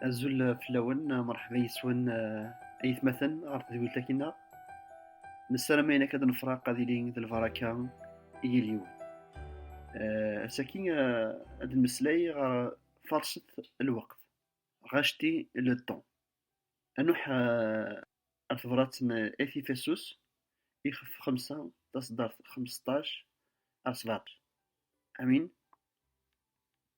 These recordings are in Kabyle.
Azul fell-awen, merḥba yis-wen ayetmaten ɣer tedwilt akina. Nessaram ayen akka ad nefraq ad ilin d lbaraka i yal yiwen. Asaki ad nmeslay ɣer farset lweqt, racheter le temps. Anuḥ ar tebrat n At Ifesus, ixef xemsa, taṣeddart xmesṭac ar sebeɛṭac. Amin.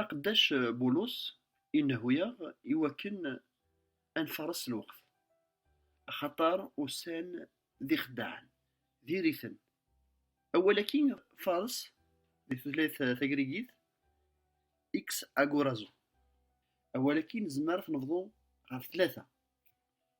Aqeddac Bulus inehhu-aɣ i wakken ad nfares lweqt, axaṭer ussan d ixeddaɛen, diri-ten. Awal-agi fares di tutlayt tagrigit ex agorazo. Awal-agi nezmer ad t-nebḍu ɣef tlata.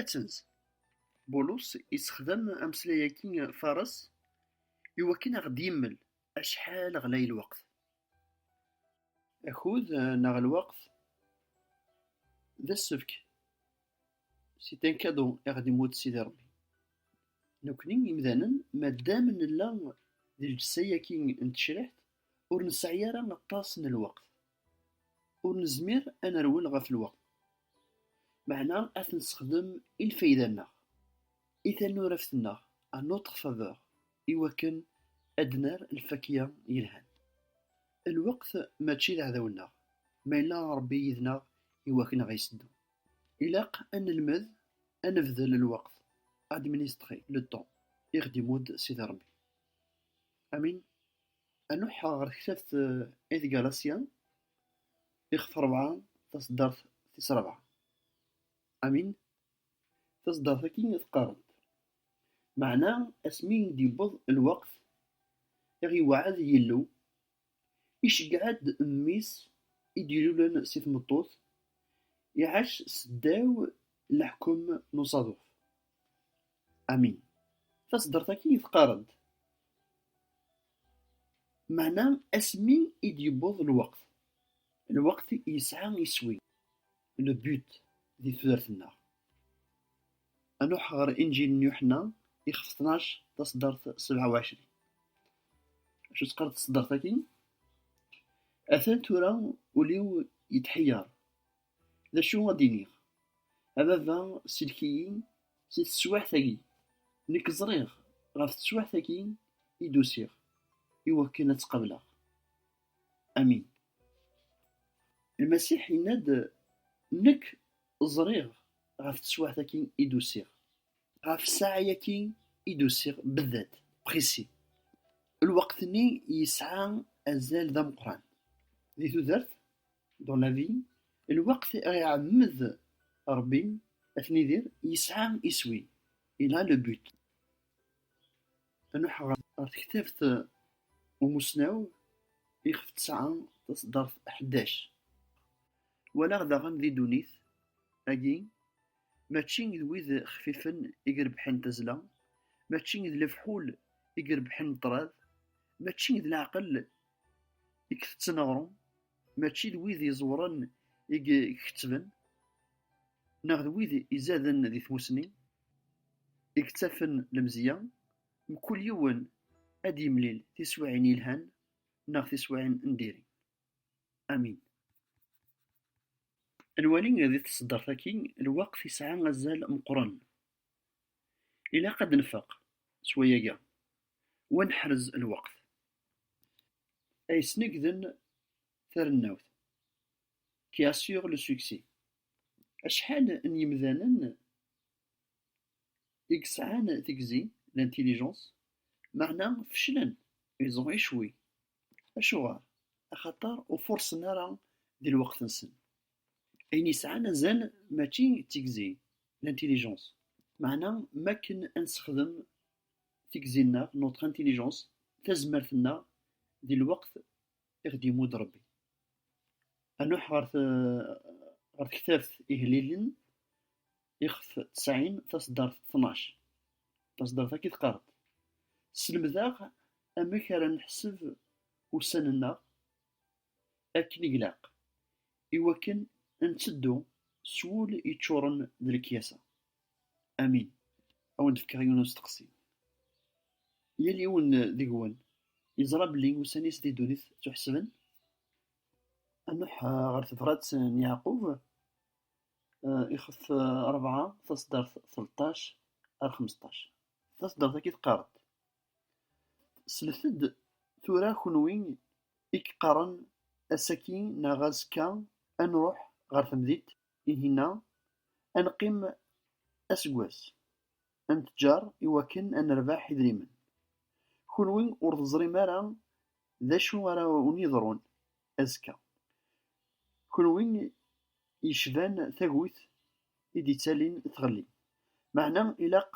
Atens, Bulus yessexdam ameslay-agi faṛes i wakken a ɣ-d-yemmel acḥal ɣlay lweqt. Akud neɣ lweqt d asefk, c'est un cadeau, i ɣ-d-imudd Sidi Ṛebbi. Nekkni imdanen, ma ddam nella di lǧessa-agi n tecriḥt, ur nesɛi ara aṭas n lweqt. Ur nezmir ad nerwel ɣef lweqt, meɛna ad t-nessexdem i lfayda-nneɣ, i tanuraft-nneɣ, à notre faveur, iwakken ad d-nerr lfakya yelhan. Lweqt mačči d aɛdaw-nneɣ, ma yella Ṛebbi yid-neɣ iwakken ad ɣ-iseddu. Ilaq ad nelmed ad nebdel lweqt, administrer le temps, i ɣ-d-imudd Sidi Ṛebbi. Amin. A nuḥeɣ ɣer tektabt Ed Galassia, ixef rebɛa, taseddart tis rebɛa. Amin? Taseddart-agi i teqqaremt. Meɛna asmi i d-yewweḍ lweqt i ɣ-yewɛed Yillu, iceggeɛ-d Mmi-s i d-ilulen si tmeṭṭut, iɛac seddaw leḥkem n usaḍuf. Ami, taseddart akin i t-qqarent. Meɛna asmi i d-yewweḍ lweqt, lweqt yesɛa iswi, le but, di tudert-nneɣ. A nruḥ ɣer Inǧil n Yuḥenna, ixef tnac, taseddart sebɛa u ɛecrin. Acu tt-qqar taseddart akin? Atan tura ul-iw yetḥeyyeṛ. D acu ara d-iniɣ? A baba, sellek-iyi si teswiɛt-agi. Nekk ẓriɣ ɣef teswiɛt-agi i d-usiɣ i wakken ad tt-qableɣ. Amin. Lmasiḥ yenna-d, Nekk ẓriɣ ɣef teswiɛt-agi i d-usiɣ. Ɣef ssaɛa-agi i d-usiɣ bedded, précis. Lweqt-nni yesɛa azal d ameqqran. Di tudert, dans la vie, lweqt ara iɛemmed Rebbi ad ten-idir yesɛa iswi, il a le but. Anuḥ ɣer tektabt umussnaw ixef tesɛa taṣeddart ḥdac. Walaɣ daɣen di ddunit agi mačči d wid xfifen i irebḥen tazzla, mačči d lefḥul i irebḥen ṭṭrad, mačči d leɛqel i itetten aɣrum, mačči d wid iẓewren i ikettben, neɣ d wid izaden di tmusni, i yettafen lemzeyya, mkul yiwen ad d-yemlil tiswiɛin yelhan neɣ tiswiɛin n diri. Amin. Ad nwali di tseddart-agi lweqt yesɛa azal meqqren. Ilaq ad nfeq s wayagi u ad neḥrez lweqt. ay snegden tarennawt, qui assure le succès. Acḥal n yemdanen i yesɛan tigzi, l'intelligence, meɛna feclen, ils ont échoué. Acuɣer? Axaṭer ur furṣen ara di lweqt-nsen. Ayen yesɛan azal mačči d tigzi, l'intelligence, meɛna m'akken ad nessexdem tigzi-nneɣ, notre intelligence, tazmert-nneɣ di lweqt i ɣ-d-imudd Rebbi. A nuḥ ɣer ɣer tektabt Ihellilen, ixef tesɛin, taṣeddart tnac. Taṣeddart akk i teqqareḍ. Sselmed-aɣ amek ara neḥseb ussan-nneɣ akken i glaq, iwakken ad netteddu s wul yeččuren d lekyasa. Amin. Ad wen-d-fkeɣ yiwen n usteqsi. Yal yiwen deg-wen yeẓra belli ussan-is di ddunit ttuḥesben? A Nuḥ, ɣer tebrat n Yeɛqub, ixef rebɛa, taṣeddart tleṭṭac ar xmesṭac. Taṣeddart-agi teqqar-d, Slet-d tura kunwi i yeqqaren ass-agi neɣ azekka ad nruḥ ɣer temdint Ihi-nna, ad neqqim aseggas, ad nettǧar i wakken ad nerbeḥ idrimen. Kunwi ur teẓrim ara d acu ara wen-yeḍrun azekka. Kunwi yecban tagut i d-yettalin tɣelli. Meɛna ilaq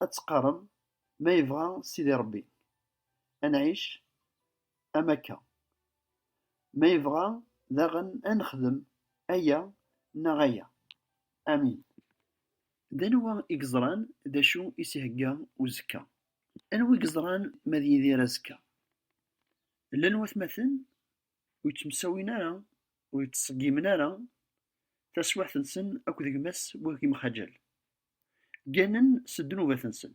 ad teqqarem, ma yebɣa Sidi Ṛebbi, ad nɛic am akka. Ma yebɣa daɣen ad nexdem aya neɣ aya. Amin. D anwa i yeẓran d acu i s-ihegga uzekka? Anwa i yeẓran ma ad yidir azekka? Llan watmaten ur yettemsawin ara, ur yettṣeggimen ara taswiɛt-nsen akked gma-s wi ɣ-yemxaǧal. Gganen s ddnubat-nsen.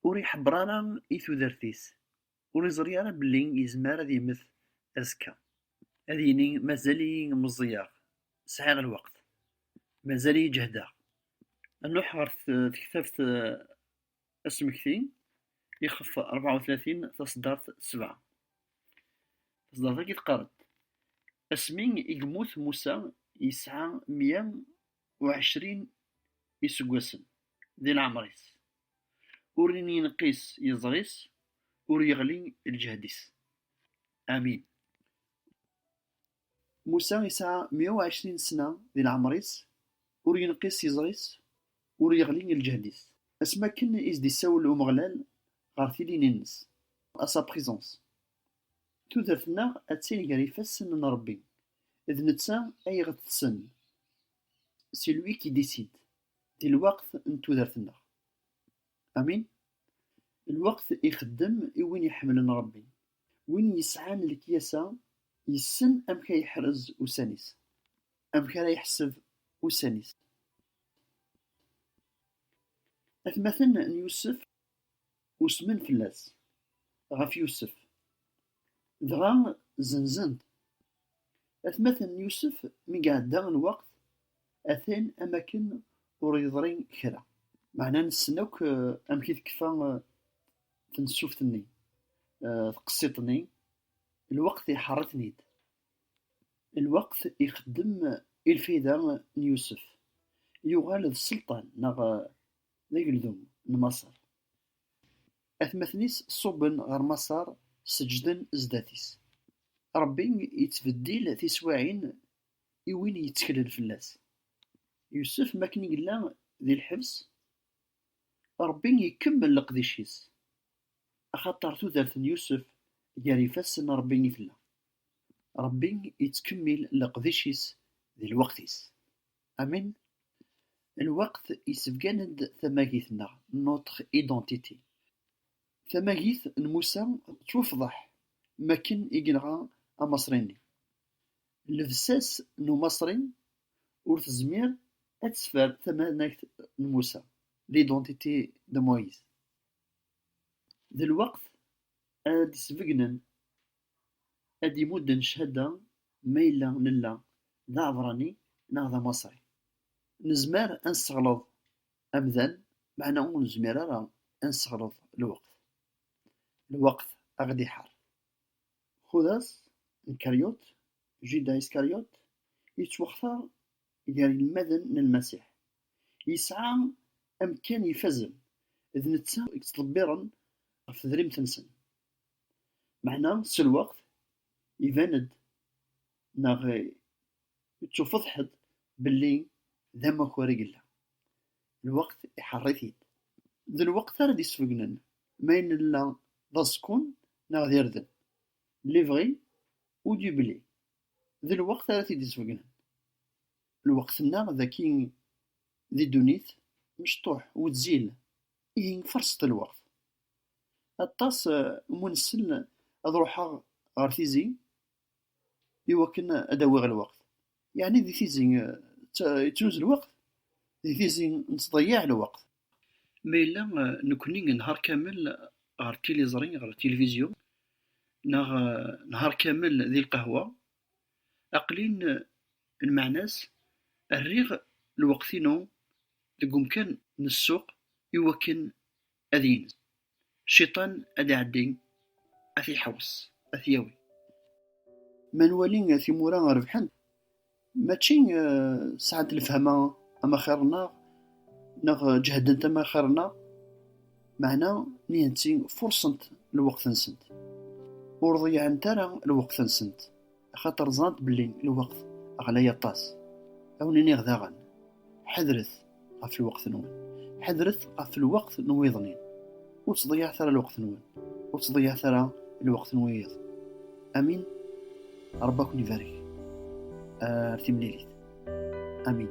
Ur iḥebber ara i tudert-is, Ur yeẓri ara belli yezmer ad yemmet azekka. Ad yini mazal-iyi meẓẓiyeɣ, sɛiɣ lweqt, mazal-iyi ǧehdeɣ. Nruḥ ɣer tektabt asmekti, ixef 34, taṣeddart 7. Taṣeddart-agi teqqar-d, Asmi i yemmut Musa yesɛa mya u ɛecrin iseggasen di leɛmer-is, ur yenqis yeẓri-s, ur yeɣli lǧehd-is. Amin. Musa yesɛa meyya u ɛecrin ssna di leɛmer-is, ur yenqis yeẓri-s, ur yeɣli lǧehd-is. Asmi akken i s-d-isawel Umeɣlal ɣer tilin-ines, à sa présence. Tudert-nneɣ attin ger ifassen n Rebbi, d netta ay ɣ-tessen, c'est lui qui décide, di lweqt n tudert-nneɣ. Amin? Lweqt ixeddem i win iḥemmlen Rebbi. Win yesɛan lekyasa yessen amek ay yeḥrez ussan-is, amek ara yeḥseb ussan-is. Atmaten n Yusef usmen fell-as, ɣef Yusef, dɣa zenzen-t. Atmaten n Yusef, mi iɛedda lweqt, atan am akken ur yeḍri kra. Meɛna nessen akk amek i tekfa tensuft-nni, tqessiṭ-nni, lweqt iḥeṛṛ-iten-id. Lweqt ixeddem i lfayda n Yusef, yuɣal d sselṭan neɣ d ageldun n Maṣer. Atmaten-is ṣubben ɣer Maṣer, seǧǧden zdat-is. Ṛebbi yettbeddil tiswiɛin i win yetteklen fell-as. Yusef mi akken i yella di lḥebs, Ṛebbi ikemmel leqdic-is, axaṭer tudert n Yusef gar ifassen n Ṛebbi i tella. Ṛebbi yettkemmil leqdic-is di lweqt-is. Amin, lweqt yessebgan-d tamagit-nneɣ, notre identité. Tamagit n Musa tettwafḍeḥ mi akken i yenɣa Amaṣri-nni. Llebsa-s n Umaṣri ur tezmir ad teffer tamanagt n Musa, l'identité de Moïse. D lweqt ara d-isbegnen ad d-imudden cchada ma yella nella d aɛebrani neɣ d amaṣri. Nezmer ad nesseɣleḍ amdan meɛna ur nezmir ara ad nesseɣleḍ lweqt. Lweqt a ɣ-d-iḥar. Xudas n Karyut, Juda Iskaryut, yettwextar gar yinelmaden n Lmasiḥ. Yesɛa amekkan ifazen, d netta i yettḍebbiren ɣef tedrimt-nsen. Meɛna s lweqt, iban-d neɣ ittuffeḍḥ-d belli d amakar i yella. Lweqt iḥeṛṛ-it-id. D lweqt ara d-isbegnen ma ayen nella d aẓekkun neɣ d irden. Lebɣi ou du blé. D lweqt ara t-id-isbegnen. Lweqt-nneɣ dagi di ddunit mecṭuḥ, wezzil, Ihi faṛset lweqt. Aṭas n wunsel ad ruḥeɣ ɣer Tizi i wakken ad awiɣ lweqt. Yeɛni di Tizi yettnuz lweqt? Di Tizi nettḍeyyiɛ lweqt. Ma yella nekkni nḥar kamel ɣer tiliẓri, ɣer tilivizyu, neɣ nḥar kamel di lqahwa, Aqlin lmeɛna-s, rriɣ lweqt-inu deg umkan n ssuq i wakken ad yens. Cciṭan ad iɛeddi, ad t-iḥewṣ, ad t-yawi. Ma nwali timura rebḥent, mačči sɛant lefhama am axir-nneɣ, neɣ ǧehdent am axir-nneɣ. Meɛna nitenti furṣent lweqt-nsent, ur ḍeyyɛent ara lweqt-nsent, axaṭer ẓrant belli lweqt ɣlay aṭas. Ad awen-iniɣ daɣen, Ḥadret ɣef lweqt-nwen, ḥadret ɣef lweqt n wiḍ-nni-n. Ur ttḍeyyiɛet ara lweqt-nwen, ur ttḍeyyiɛet ara lweqt n wiyiḍ. Amin. Ṛebbi ad ken-ibarek. Ar timlilit. Amin.